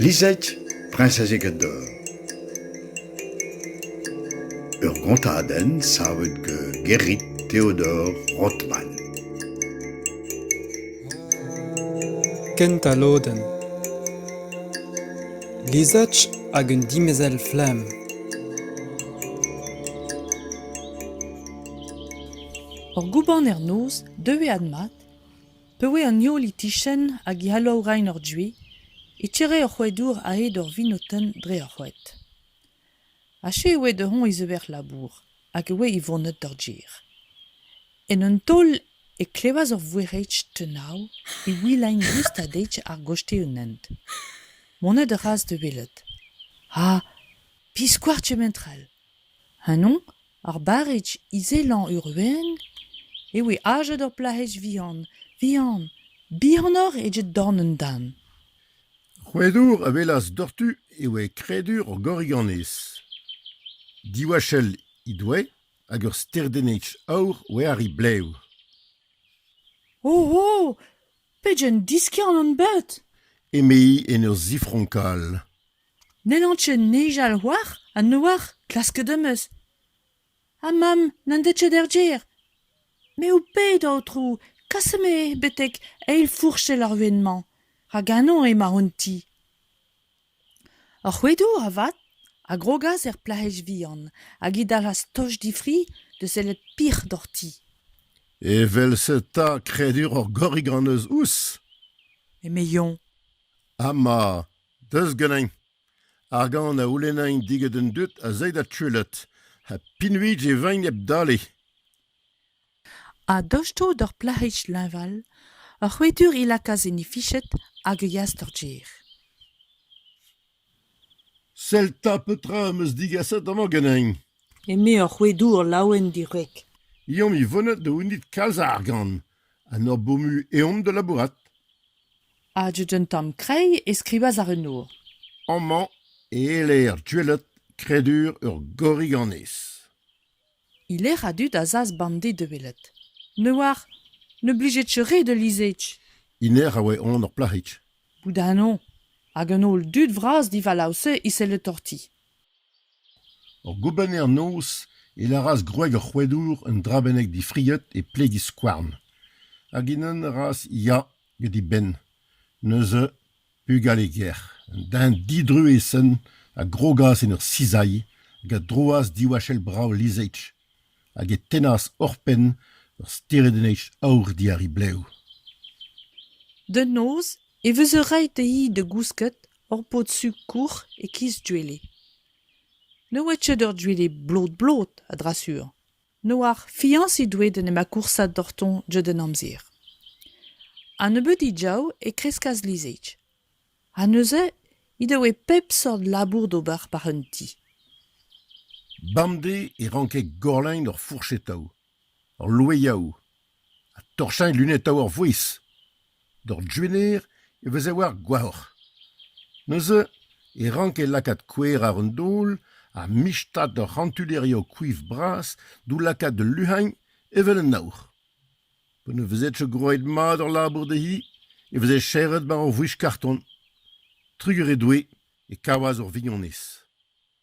Lizhig, priñsez Egador. Ur gontadenn savet gant Gerrit Theodor Rothman. Kent al lodenn. Lizhig hag un dimezell flamm. Ur goubanner-noz deue admat, pa oe an heol e-kichen hag e alav rein ur duez, e tere ur c'hoadour a-hed ur vinotenn dre ar c'hoad. Aze e oe da-heñv e zeuer labour hag e oe e vonet d'ar gêr. En un taol e klevas ur voerc'hed tenav e wilain rust ha deiz ar goste un hent. Monet a ras da welet. Ha biskoazh kement-all. Ha noñ Ar barrez izelañ Urvén e voe aozet ur plac'hig vihan, vihan, bihanoc'h eget dorn an den. Rouedour a welas doc'htu e oa kredur ur goriganez. Diwachell he doe hag ur sterdenneg aour oa ar he blev. O! O! Pegen diskiant on bet! eme-hi en ur zifronkal. N'hellan ket nijal c'hoazh ha n'oar klasket am eus. Ha mamm n'en deus ket er gêr. Me ho ped, aotrou, kasemp-me betek eil fourchell ar win-mañ, rak ganeomp emañ hon ti. Ar c'hoedour, avat, a grogas er plac'hig vihan hag he dalc'has toch difri da sellet pic'h d'hor ti. Evel-se 'ta kredur ur gorrig hon eus ouzh ? eme Yon. Ama, Deus ganin. Ar gant a c'houlennin digant an dud az ait adtuellet ha pinuit e vein hep dale. A-dostoù d'ur plac'hig leñval, ur c'hwitur he lakaas en he fichet hag e yas d'ur gêr. Sell 'ta petra am eus digaset amañ ganin. Eme ur c'hwedour laouen-dirwreg. Eomp-i vonet da c'hounit kalz a argant. An ur bomu eomp da labourat. Hadet un tamm kreiz e skrivas ar renour. Amañ e eler gwelet kredur ur gorriganez. E lec'h a-dud azas bande da welet. Ne oar. Ne blijet re da lizhech. Iner a oa on ur plac'hig. Bout a-noñ. Hag an holl dud vras divalav-se e selle torti. Ur goubenner-noz e lâras gwreg ar c'hoadour un dra bennak difriet e pleg he skouarn, hag Inan a ras ya get he benn, neuze bugale ger un den didruez-sen a grogas en ur sizailh hag a droas diwall brav lizheig hag e tennas oc'hpenn ur steredennig aour diàr he blev. Da noz e veze ret dezhi da gousket Ur pod-sikour e-kiz Duele. Ne oa ket ur Duele blot-blot, a-dra-sur. N'oar fiañsiñ doe d'en em akoursañ doc'htoñ ket en amzer. Ha nebeudiñ diav e kreskas lizheig. Ha neuze he doe pep seurt labour d'ober war un ti. Bemdez e ranke Gorlein ur fourch-etav. Hor loeiaoù ha torchañ lunetaoù ar vouezh d'hor jubenner e veze war goajoc'h. Neuze e ranke lakaat kouer àr un daol ha michtat ur c'hantulerioù kouif bras d'o lakaat da luc'hagn evel un aour. Pa ne vezedfe gwraet mat hor labour dezhi e veze serret war hor vouezh karton. Trugar he doe e kavas hor vignonez.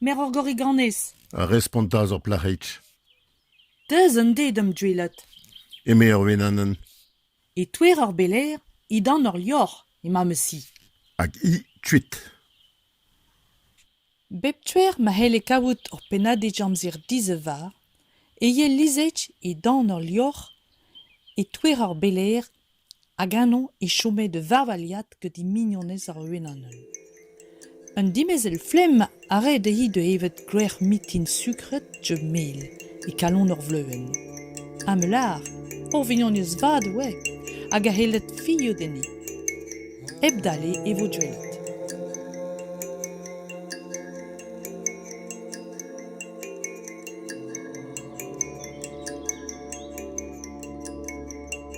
Merc'horgorig-annez ! a respontas ur plac'hig. Deus un dez d'am deuilat. eme ar wenanenn. E-touez ar belaer, e-dan ur lorc'h emañ ma ti. Hag hi kuit. Bep tuer ma c'helle kavout ur pennadig amzer dizevar, e yelizhech e-dan ur lorc'h, e-touez ar belaer Hag ennañ e chome da varvaliad gant he mignonez ar Wenan-heul. Un dimezell flemm a rae dezhi da evet grec'h mintin sukret diouzh mel e kalon ur vleuenn. Ha me lâr, ur vignonez vat e oa, hag a c'helled fiñv dezhi. Hep dale e vo deuet.